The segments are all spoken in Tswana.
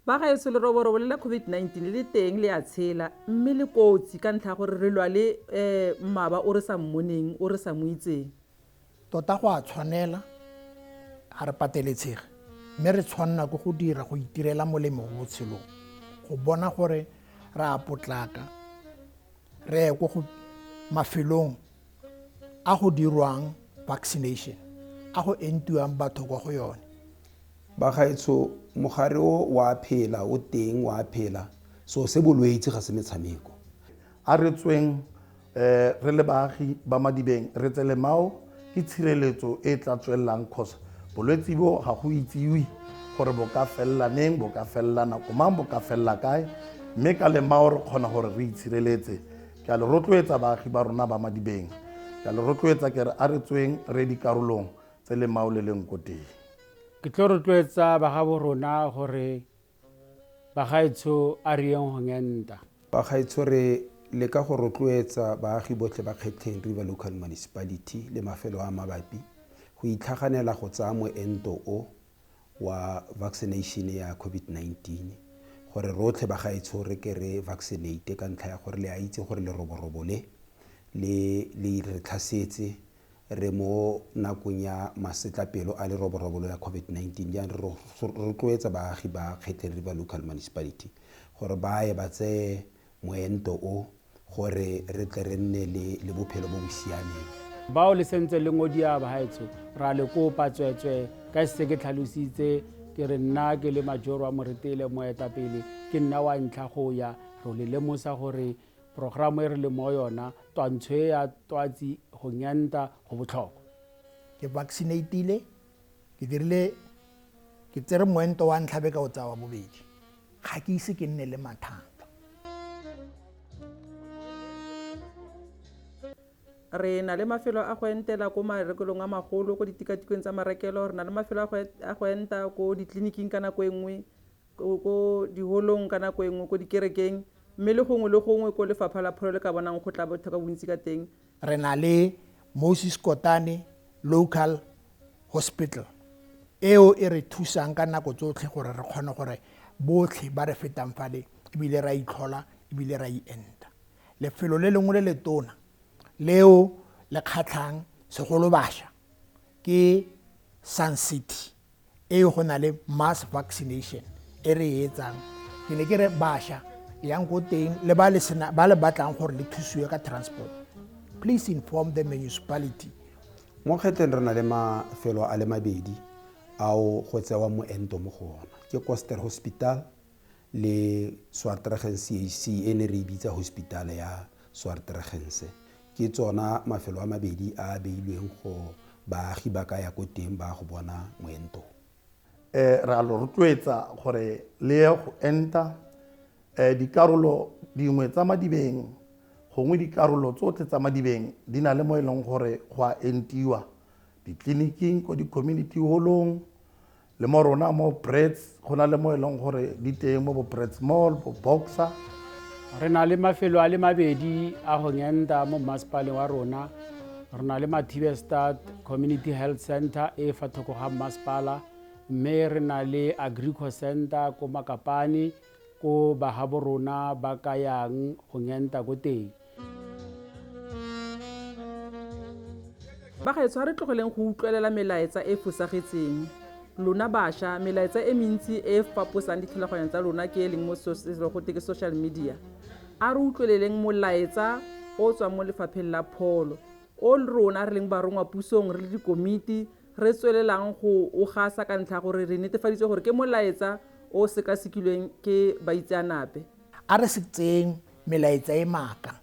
ba gaetsho leroborobo le la covid-19 le le teng le a tshela mme le kotsi ka ntlha ya gore re lwa le um mmaba o re sa mmoneng o re sa mo itseng Tota go a tshwanela, ga re pateletshege, mme re tshwanna ke go dira go itirela molemo mo botshelong, go bona gore re a potlaka re ye ko go mafelong a go dirwang vaccination, a go entiwang batho kwa go yone. Bagaetsho, mogare o o a phela, o teng, o a phela, so se bolwetse ga se metshameko. A re tsweng Re le baagi ba Madibeng re tsele mao ke tshireletso e e tla tswelelang cos bolwetsi bo ga go itsiwe gore bo ka felela neng, bo ka felela nako mang, bo ka felela kae mme ka lemao re kgona gore re itshireletse. Ke a le rotloetsa baagi ba rona ba Madibeng, ke a le rotloetsa ke re a re tsweng re ye dikarolong tse lemao le leng ko teng. Ke tlo rotloetsa bagabo rona gore Bagaetsho a re yeng go ngenta. Bagaetsho re leka go rotloetsa baagi botlhe ba Kgetlheng River Local Municipality le mafelo a a mabapi go itlhaganela go tsaya moento o wa vaccination ya COVID-19 gore rotlhe bagaetsho re ke re vaccinate ka ntlha ya gore le a itse gore leroborobo le le re tlhasetse re mo nakong ya masetlapelo a leroborobo la COVID-19, jaanong re rotloetsa baagi ba Kgetleri ba Local Municipality gore ba ye ba tseye moento o gore re tle re nne le, le bophelo bo bo siameng. Bao le sentse le ngodia bahaetsho, ra le kopa tsweetswee, ka se ke tlhalositse ke re nna ke le Majoro wa Moretele, moetapele, ke nna wa ntlha go ya, ro le lemosa gore Programo e re le mo yona, twantsho e ya twatsi go nyanta go botlhokwa. Ke vaccinateile, ke dirile ke tsere moento wa ntlha be ka o tsaya wa bobedi. Ga ke ise ke nne le mathata. Re na le mafelo a go entela ko marekelong a magolo, ko ditikatikweng tsa marekelo, re na le mafelo a go enta ko ditleliniking ka nako e nngwe, ko diholong ka nako e nngwe ko dikerekeng mme le gongwe le gongwe ko lefapha la pholo le ka bonang go tla batho ka bontsi ka teng. Re na le Moses Kotane Local Hospital eo e re thusang ka nako tsotlhe gore re kgone gore botlhe ba re fetang fale ebile ra itlhola ebile ra ienta. Lefelo le lengwe le le tona leo le kgatlhang segolo basha ke Sun City e go na le mass vaccination e re e etsang ke ne ke re basha yang ko teng le ba le sena ba le batlang gore le thusiwe ka transport please inform the municipality mo kgetlheng re na le mafelo a le mabedi ao go tsewa moento mo go ona ke coster hospital le Swartregenseac e ne re e bitsa Hospitaal ya Swartregense. Ke tsona mafelo a mabedi a a beilweng go baagi ba ka ya ko teng ba go bona moento. Re a lo rotloetsa gore le ye go enta dikarolo dingwe tsa madibeng gongwe dikarolo tsotlhe tsa madibeng di na le mo e leng gore go a entiwa, ditleliniking, ko di-community holong, Le mo rona mo Brits go na le mo e leng gore di teng mo bo Brits Mall, bo Boxer. Re na le mafelo a le mabedi a go ngenta mo mmasepaleng wa rona. Re na le Mathibestad Community Health Center e fa thoko ga mmasepala mme re na le Agrico Center ko Makapane ko bagabo rona ba ka yang go ngenta ko teng. Bagaetsho, a re tlogeleng go utlwelela melaetsa e e fosagetseng. Lona basha, melaetsa e mentsi e e faposang dithulaganyo tsa lona ke e leng mo go teke social media. A re utlweleleng molaetsa o o tswang mo lefapheng la pholo, o rona re leng barongwa pusong re le dikomiti re tswelelang go o gasa ka ntlha ya gore re netefaditse gore ke molaetsa o o sekasekilweng ke baitseanape. A re se tseyeng Melaetsa e maaka.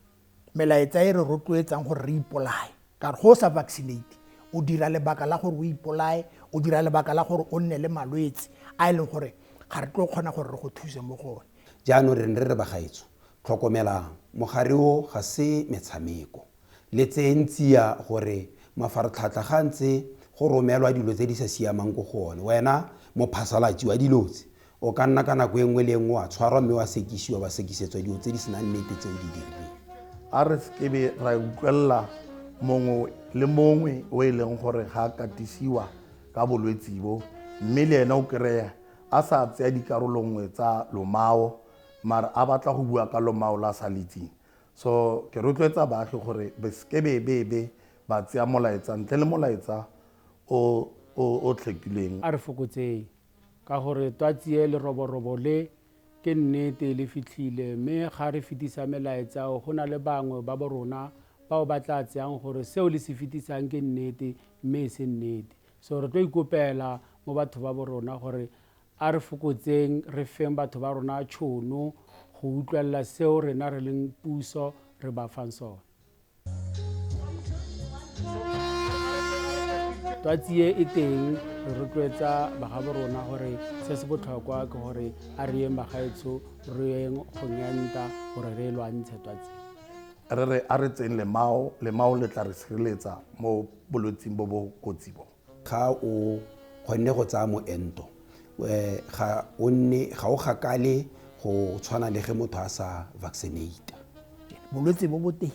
Melaetsa e re rotloetsang gore re ipolaye. Ka gore go o sa vaccinate, o dira lebaka la gore o ipolaye, o dira lebaka la gore o nne le malwetse a e leng gore ga re tlo kgona gore re go thuse mo go one. Jaanong re ne re re bagaetsho, tlhokomelang, mogare o ga se metshameko. Le tseeng tsia gore mafaratlhatlha ga ntse go romelwa dilo tse di sa siamang ko go one, wena mophasalatsi wa dilo tse, O ka nna ka nako e nngwe le e nngwe wa tshwarwa mme wa sekisiwa, wa sekisetswa dilo tse di senang nnete tse o di dirileng. A re se kebe ra utlwelela mongwe le mongwe o e leng gore ga a katisiwa ka bolwetsi bo mme le ene o kry-e a sa tseya dikarolo nngwe tsa lomao mare a batla go bua ka lomao la sa le itseng. So ke rotloetsa baagi gore be se kebebebe ba tseya molaetsa ntle le molaetsa o o tlhekilweng. A re fokotseng Ka gore twatsi e, leroborobo le, ke nnete, le fitlhile. Mme ga re fetisa melaetsa o, go na le bangwe ba bo rona bao ba tlaa tseyang gore seo le se fetisang ke nnete, mme e se nnete. So re tlo ikopela mo batho ba bo rona gore a re fokotseng, re feng batho ba rona tšhono go utlwelela seo rena re leng puso re ba fang sone. twatsi e e teng re rotloetsa bagabo rona gore se se botlhokwa ke gore a re yeng bagaetsho re yeng kgonyanta gore re e lwantshe twatsi re re a re tseng lemao lemao le tla re sireletsa mo bolwetsing bo bo kotsi bo Ga o kgonne go tsaya moento, ga o nne ga o gakale go tshwana le ge motho a sa vaccinate. Bolwetse bo boteng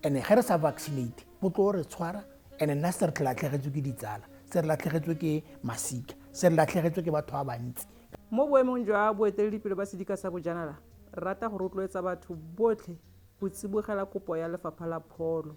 and ge re sa vaccinate bo tlo re tshwara and nna se re tle latlhegetswe ke ditsala, se re latlhegetswe ke masika, se re latlhegetswe ke batho ba bantsi. Mo boemong jwa boeteledipele ba sedika sa bojanala, re rata go rotloetsa batho botlhe go tsibogela kopo ya Lefapha la Pholo.